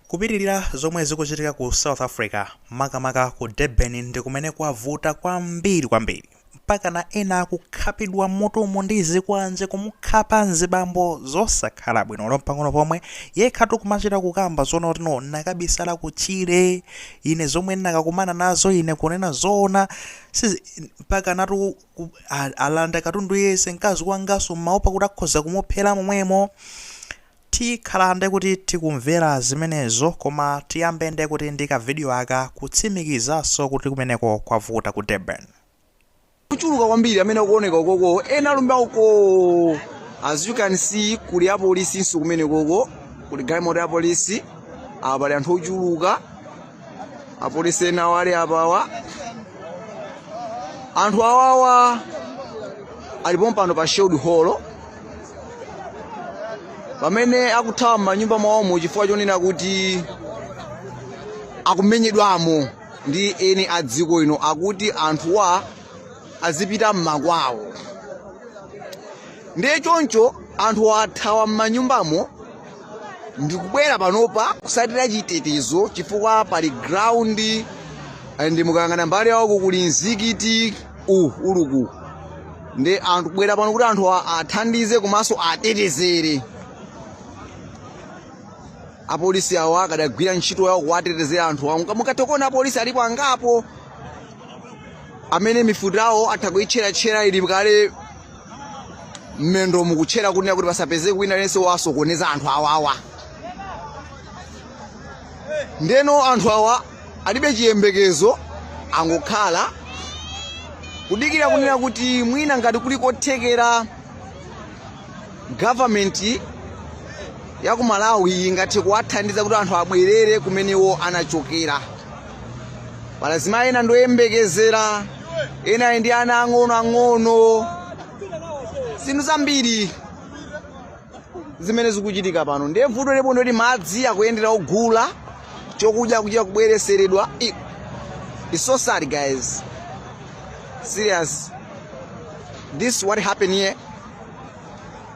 Kupitilira zomwe zikuchitika ku South Africa makamaka ku Durban ndikumene kwavuta kwambiri kwambiri. Mpakana ena akukhapidwa mutumu ndi zikwanje kumukhapa mzibambo zosakhala bwino olo mpang'ono pomwe. Yekhatu kumachita kukamba zoona kuti no nakabisala ku tchire ine zomwe nakakumana nazo ine kunena zoona sizi mpakanatu ku- ku- a- alanda katundu yense mkazi wangaso mmaopa kuti akhoza kumuphera momwemo. Tikhala nde kuti tikumvera zimenezo koma tiyambe nde kuti ndi ka video aka kutsimikizaso kuti kumeneko kwavuta ku Durban. Ochuluka kwambiri amene akuoneka ukoko ena alumbi uko as you can see kuli apolisinso kumenekoko kuli galimoto ya polisi apa pali anthu ochuluka apolisi ena awo ali apawa anthu awawa ali pompano pa Sherwood Hall pamene akuthawa m'manyumba mwawomo chifukwa chonena kuti akumenyedwamo ndi eni a dziko ino akuti anthuwa azipita m'makwawo ndiye choncho anthu athawa m'manyumbamo ndikubwera panopa kusatira chitetezo chifukwa pali ground eh, and mukayang'ana mbali ya uko kuli mzikiti u uluku ndiye anthu abwera pano kuti anthu a- athandize komanso atetezere apolisi awo akadagwira ntchito yawo kuwatetezera anthu awo Muka- mukatha kuona apolisi alipo angapo amene mifuti zawo atha kuitcheratchera ili kale mmendo mukutchera kunena kuti pasapezeke wina aliyense wasokoneza anthu awawa ndeno anthu awa alibe chiyembekezo angokhala kudikira kunena kuti mwina ngati kuli kothekera government ya ku Malawi ingathe kuwathandiza kuti anthu abwerere kumene iwo anachokera pali azimayi ena ndi oyembekezera ena ndi ana ang'ono ang'ono zinthu zambiri zimene zikuchitika pano ndiye vuto lipo ndoti madzi akuyendera ogula chokudya kuchita kubwereseredwa I- it's so sad guys serious this is what happened here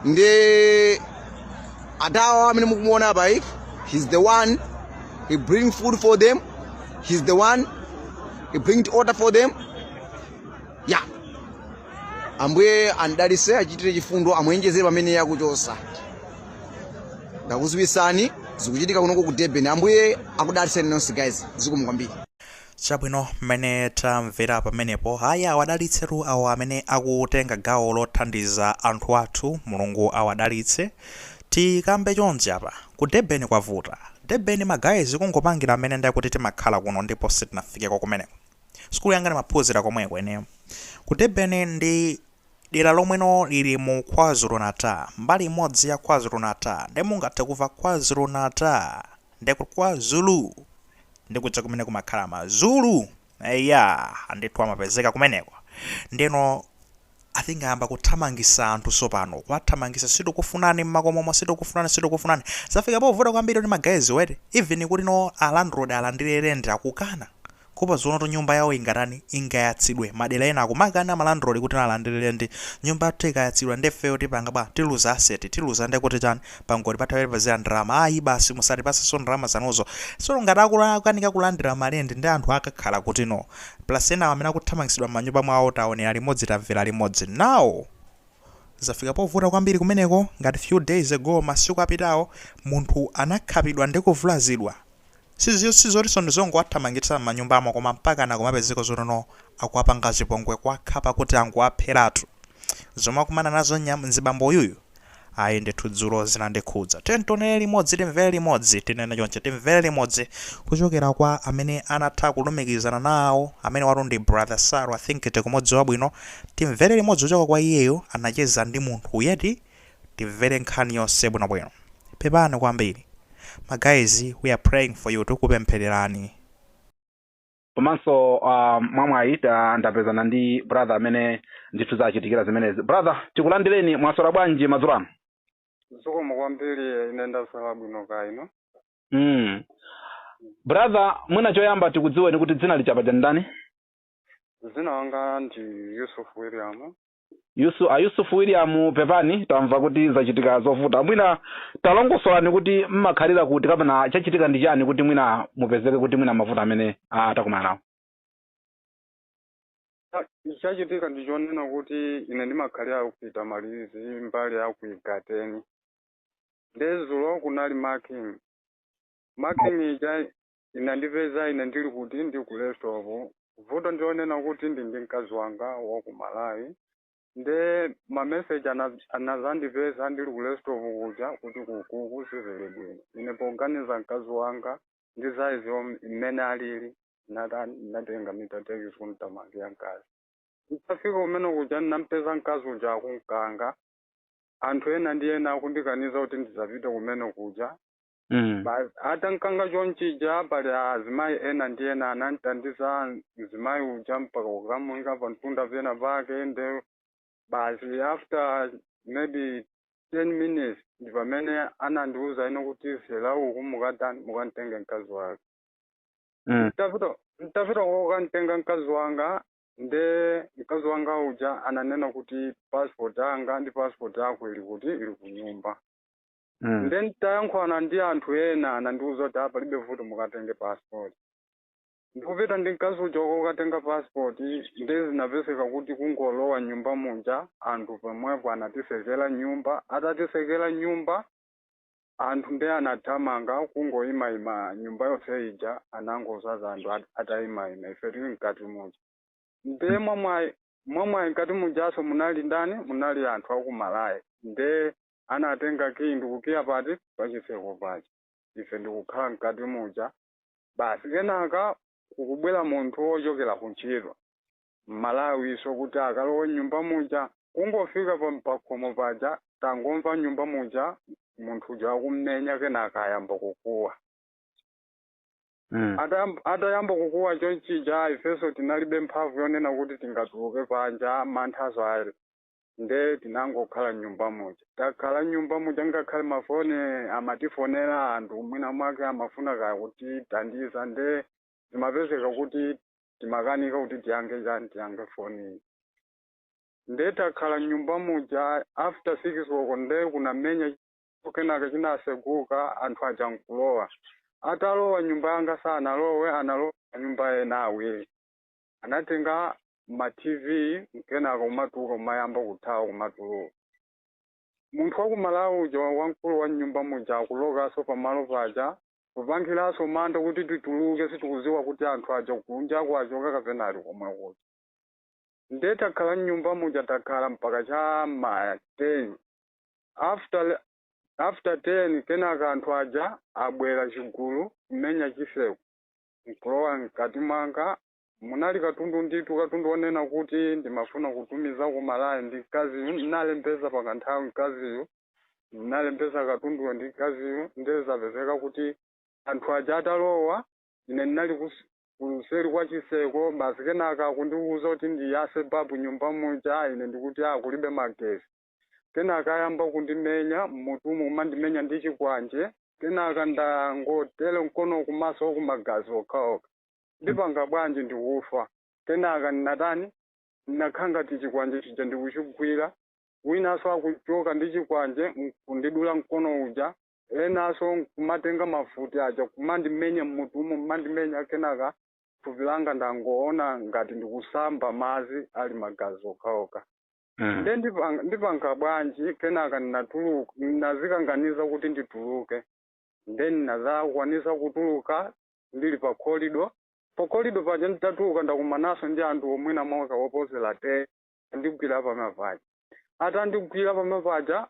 ndi adadawa amene mukumuona apa he's the one he bring food for them he's the one he bring the water for them yeah ambuye awadalise awachitire chifundo awonjezere pamene akuchosa ndakuziwisani zikuchitika kunoko ku Durban ambuye akudaliseni nonse guys zikomo kwambiri Chabwino, mmene tamvera pamenepo, ayi awadalitsetu awo amene akutenga gawo lothandiza anthu athu, Mulungu awadalitse. Tikambe chonchi apa, ku Durban kwavuta. Durban ma guys kungopangira mmene nde kuti timakhala kuno ndipo sitinafikeko kumeneko. Sukulu yanga ndimaphunzira komweko ineyo. Ku Durban ndi. Dera lomweno liri mu KwaZulu-Natal, mbali imodzi ya KwaZulu-Natal, nde mungathe kumva KwaZulu-Natal, nde kuti Kwa Zulu nde kuja kumene kumakhala ma Zulu, eya ndithu amapezeka kumeneko, ndeno I think ayamba kuthamangisa anthu tsopano, kuwathamangisa sitikufunani mmakomomo sitikufunani sitikufunani, zafika povuta kwambiri kuti ma guys wo eti, even kuti no a landlord alandire rent akukana, Kuopa zoonatu nyumba yawo ingatani? Ingayatsidwe. Madera ena akumakana ma landlord kuti alandire rent. Nyumba yathu ikayatsidwa nde ifeyo tipanga bwa? Tiluza asset. Tiluza nde kuti chani? Pangoti patha pati pazira ndalama. Ayi basi musatipatsenso ndalama zanuzo. Tsono ngati akukanika kulandira ma rent nde anthu akakhala kuti? No. Plus enawa amene akuthamangitsidwa m'manyumba mwawo taonera limodzi tamvera limodzi. Now! Zafika povuta kwambiri kumeneko? Ngati few days ago, masiku apitawo, munthu anakhapidwa ndi kuvulazidwa. Sizotinso ndizongowathamangitsa mmanyumbamo koma mpakana kumapezeka zoti no akuwapanga chipongwe kuwakhapa kuti angowapheratu. Zomwe akumana nazo nyam, mzibambo uyuyu ayi ndithu dzulo zinandikhudza. Tiyeni tionere limodzi timvere limodzi tinene chonchi timvere limodzi kuchokera kwa amene anatha kulumikizana nawo amenewatu ndi brother Saru I think tikumudziwa bwino. Timvere limodzi kuchoka kwa iyeyo anacheza ndi munthuyu eti timvere nkhani yonse bwinobwino. Pepani kwambiri. Ma guys we are praying for you tukupemphererani. komanso uh, mwamwayi ta- ndapezana ndi brother amene ndithu zachitikira zimenezi brother tikulandireni mwaswera bwanji madzulo ano zikomo kwambiri ine ndaswera bwino kaya inu mm. brother mwina choyamba tikudziweni kuti dzina lichapa cha ndani dzina langa ndi yusuf william yusu a yusufu william pepani tamva kuti zachitika zovuta mwina talongosolani kuti mmakhalira kuti kapena chachitika ndi chani kuti mwina mupezeke kuti mwina mavuto amene ah, takumana nawo chachitika ndi chonena kuti ine ndimakhalira ku Pietermaritz mbali ya ku igateni nde dzulo kunali marching marching ija Inandipeza ine ndili kuti? Ndi ku Raisethorpe. Vuto ndi lonena kuti ndi ndi mkazi wanga wa ku Malawi. Nde ma message ana anadzandipeza ndili ku Raisethorpe kuja kuti ku kuku sizili bwino. Ine poganiza mkazi wanga ndi size yom mmene alili ndinatani ndinatenga meter taxi kumthamangira mkazi. Nditafika kumene kuja ndinampeza mkazi uja akunkanga. Anthu ena ndi ena akundikaniza kuti ndisapite kumene kuja. Mm. Ba- atamukanga chonchija pali azimayi ena ndi ena anamtandiza mzimayi uja mpaka kukamuyika pa mtunda pena pake nde basi after maybe 10 minutes ndi pamene anandiwuza ino kuti fela uku mukatani mukantenge mkazi wake Mm. mtapita mtapita kokantenga mkazi wanga nde mkazi wanga uja ananena kuti passport yanga ndi passport yako ili kuti ili kunyumba Mm. nde nditayankhulana ndi anthu ena anandiuza kuti apa palibe vuto mukatenge passport ndikupita ndi mkazi uja kokatenga passport nde zinapezeka kuti kungolowa nyumba muja anthu pomwepo anatisekera nyumba atatisekera nyumba anthu nde anathamanga kungoyimayima nyumba yonse ija inangozaza anthu at- atayimayima ife tili mkati muja nde mwamwayi mwamwayi mkati mujaso munali ndani munali anthu akumalawi nde anatenga kiyi ndikukiya pati pachitseko paja ife ndikukhala mkati muja basi kenaka akubwera munthu wochokera kuntchito mmalawiso kuti akalowe mnyumba muja kungofika pa pakhomo paja tangomva mnyumba muja munthu uja akummenya kenaka ayamba kukuwa Mm. Atayam- atayamba kukuwa chonchija ifenso tinalibe mphamvu yonena kuti tingatuluke panja manthaso ali nde tinangokhala mnyumba muja takhala mnyumba muja ngakhale mafoni amatifonera anthu mwina mwake amafuna kaya kutithandiza nde zimapezeka kuti timakanika kuti tiyankhe chani tiyankhe foni nde takhala mnyumba muja after six koloko nde kukumenya kenaka chinaseguka anthu aja nkulowa atalowa nyumba yanga sanalowe analowa nyumba ena awiri anatenga ma tv nkenaka kumatuluka kumayamba kuthawa kumatuluka munthu wa ku malawi uja wamkulu wa mnyumba muja akulokaso pamalo paja kupangiranso mantha kuti tituluke sitikuziwa kuti anthu aja kunjako achoka kapena ali komwe kuja nde takhala mnyumba muja takhala mpaka cha ma 10 after after 10 kenaka anthu aja abwera chigulu kumenya chiseko nkulowa mkati mwanga munali katundu ndithu katundu wonena kuti ndimafuna kutumiza ku malawi ndi mkaziyu ndinalembeza pa kanthawi mkaziyu ndinalembeza katunduyo ndi mkaziyu ndezapezeka kuti anthu aja atalowa ine ndinali kus- kuseri kwa chiseko basi kenaka akundiwuza kuti ndiyase babu nyumba muja ine ndikuti akulibe magesi Kenaka ayamba kundimenya m'mutumu kumandimenya ndi chikwanje. Kenaka ndangotere mkono kumaso uku magazi okhaokha. Ndipanga bwanji ndikufa. Kenaka natani? Nakhala ngati chikwanje chija ndikuchigwira. Winanso akuchoka ndi chikwanje n'kundidula mkono uja. Enanso n'kumatenga mafuti aja kumandimenya m'mutumu kumandimenya. Kenaka thupi langa ndangoona ngati ndikusamba madzi ali magazi okhaokha. Mm. nde ndipanga- ndipanga bwanji kenaka ndinatuluka ndinazikakamiza kuti ndituluke nde ndinazakwanisa kutuluka ndili pa kolido pa kolido paja nditatuluka ndakumanaso ndi anthu mwina mwake oposera ten andigwira pamaphewa atandigwira pamaphewa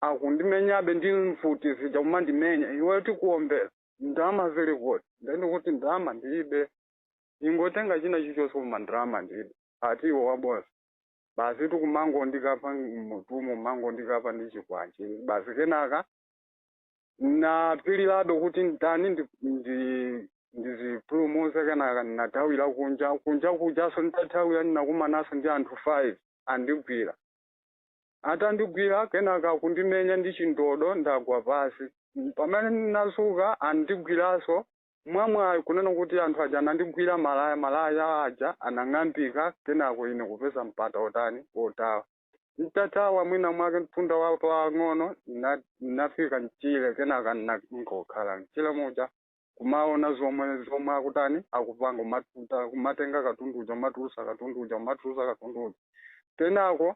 akundimenyabe ndi mfuti zija kumandimenya iweyo tikuombera ndalama zili kuti nde ndikuti ndalama ndilibe ingotenga china chichonse koma ndalama ndilibe ati iwe wabodza basi akumangondikhapa mmutumu kumangondikhapa ndi chikwanje basi kenaka napilirabe kuti nditani ndi- ndi- ndizipulumuze kenaka ndinathawira kunja kunja kujaso nditathawira ndinakumanaso ndi anthu five andigwira atandigwira kenaka kundimenya ndi chindodo ndagwa pasi pamene ndinazuka andigwiraso mwamwayi kunena kuti anthu aja anandigwira malaya, malaya aja anang'ambika kenako ine kupeza mpata otani otawa. Ntathawa mwina mwake mtunda wa pang'ono nna- nnafika mchire kenaka nna- nkokhala mchire muja kumaona zomwe zomwe akutani akupanga kumatuta kumatenga katundu uja kumatulusa katundu uja kumatulusa katundu uja kenako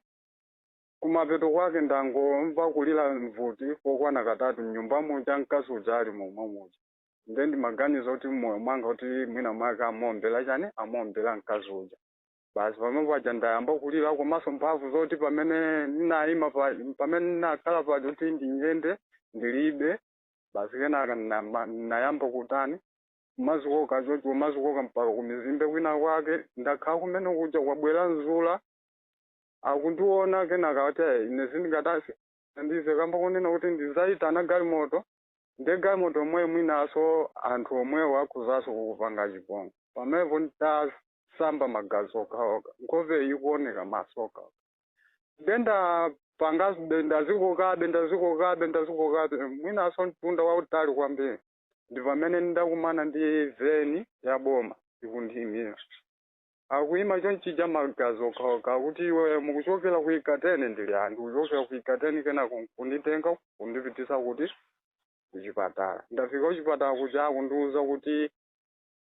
kumapeto kwake ndangomva kulira mfuti kokwana katatu mnyumba muja mkazi uja ali momwe muja nde ndimaganiza kuti mmoyo mwanga kuti mwina mwake amuombera chani amuombera mkazi uja basi pamene paja ndayamba kulira komanso mphamvu zoti pamene ndinayima pa- pamene ndinakhala paja kuti ndinyende ndilibe basi kenaka ndinama- ndinayamba kutani kumazikoka choncho kumazikoka mpaka kumizimbe kwina kwake ndakhala kumene kuja kwabwera njinga akundiona kenaka kuti "Eh, ine sindingathenso ndizikamba kunena kuti ndizayitana galimoto Nde galimoto yomweyo mwinaso anthu omwewo akhozaso kukupanga chipongwe pamenepo nditasamba magazi okhaokha nkhope ikuoneka maso okhaokha nde ndapangabe ndazikokabe ndazikokabe ndazikokabe mwinaso mtunda wautali kwambiri ndipamene ndakumana ndi veni yaboma ikundiimisa. akuyima chonchija magazi okhaokha akuti iwe mukuchokera ku ikateni ndili ndikuchokera ku ikateni kenaka nkunditenga kundipitisa kuti kuchipatala ndafika kuchipatala kuja akundiuza kuti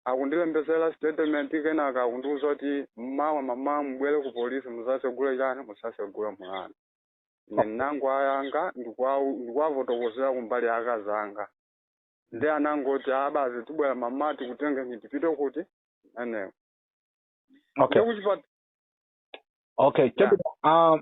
akundilembesera statement kenaka akundiuza kuti mmawa mmamawa mubwere ku polisi muzasegule chani muzasegule mulandu ine ndinango yankha ndikuwa- ndikuwafotokozera kumbali ya akazi anga ndiye anangoti ah basi tibwera mmawa tikutengeni tipite kuti anewo okay ndikuchipata okay chabwino um,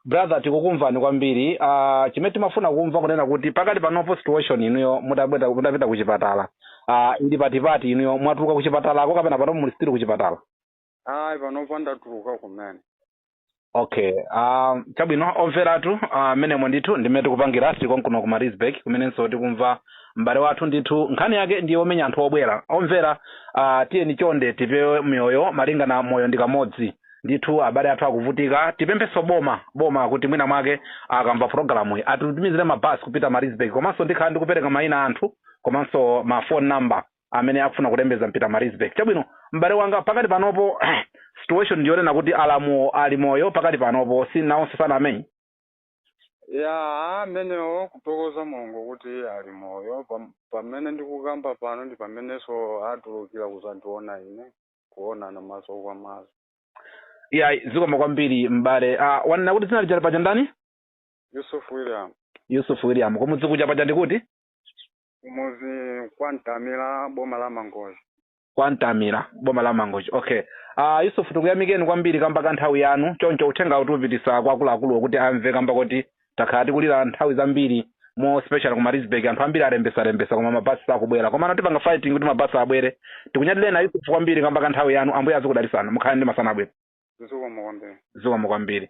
brother tikukumvani kwambiri uh, chimene timafuna kumva kunena kuti pakati panopo situation inuyo mutabwera mutapita kuchipatala uh, ili patipati inuyo mwatuluka kuchipatalako kapena panopo muli still kuchipatala ayi panopa ndatuluka kumene okay um, chabwino omveratu mmenemo uh, ndithu ndimmene tikupangira tili konkuno ku marisburg kumenenso tikumva m'bale wathu ndithu nkhani yake ndiye omenya anthu obwera omvera uh, tiyeni chonde tipewe miyoyo malingana moyo ndi kamodzi ndithu abale athu akuvutika tipemphenso boma boma kuti mwina mwake akamva pulogalamu iyi atitumizire mabasi kupita marisburg komanso ndikhala ndikupereka mayina anthu komanso mafoni number amene akufuna kulembetsa mpita marisburg chabwino m'bale wanga pakati panopo situation ndiyonena kuti alamuwo ali moyo pakati panopo si nawonso anamenyedwa amenewo kuthokoza mulungu kuti ali moyo Pam- pamene ndikukamba pano ndi pamenenso atulukira kudzandiona ine kuonana maso kwa maso ya zikoma kwambiri m'bale uh, wanena kuti dzina lija paja ndani yusuf william yusuf william kumudzi kuja paja ndikuti kumuzi kwa mtamira boma la mangochi kwa mtamira boma la mangochi okay uh, yusufu tikuyamikeni kwambiri kamba ka nthawi yanu choncho uthengawu tikupititsa kwa akuluakuluwo kuti amve kamba kuti takhala tikulira nthawi zambiri more especially ku marisburg anthu ambiri alembetsalembetsa koma mabasi sakubwera komano tipanga fighting kuti mabasi abwere tikunyadireni a yusufu kwambiri kamba ka nthawi yanu ambuye azikudalitsani mukhale ndi masana abwino zikomo kwambiri zikomo kwambiri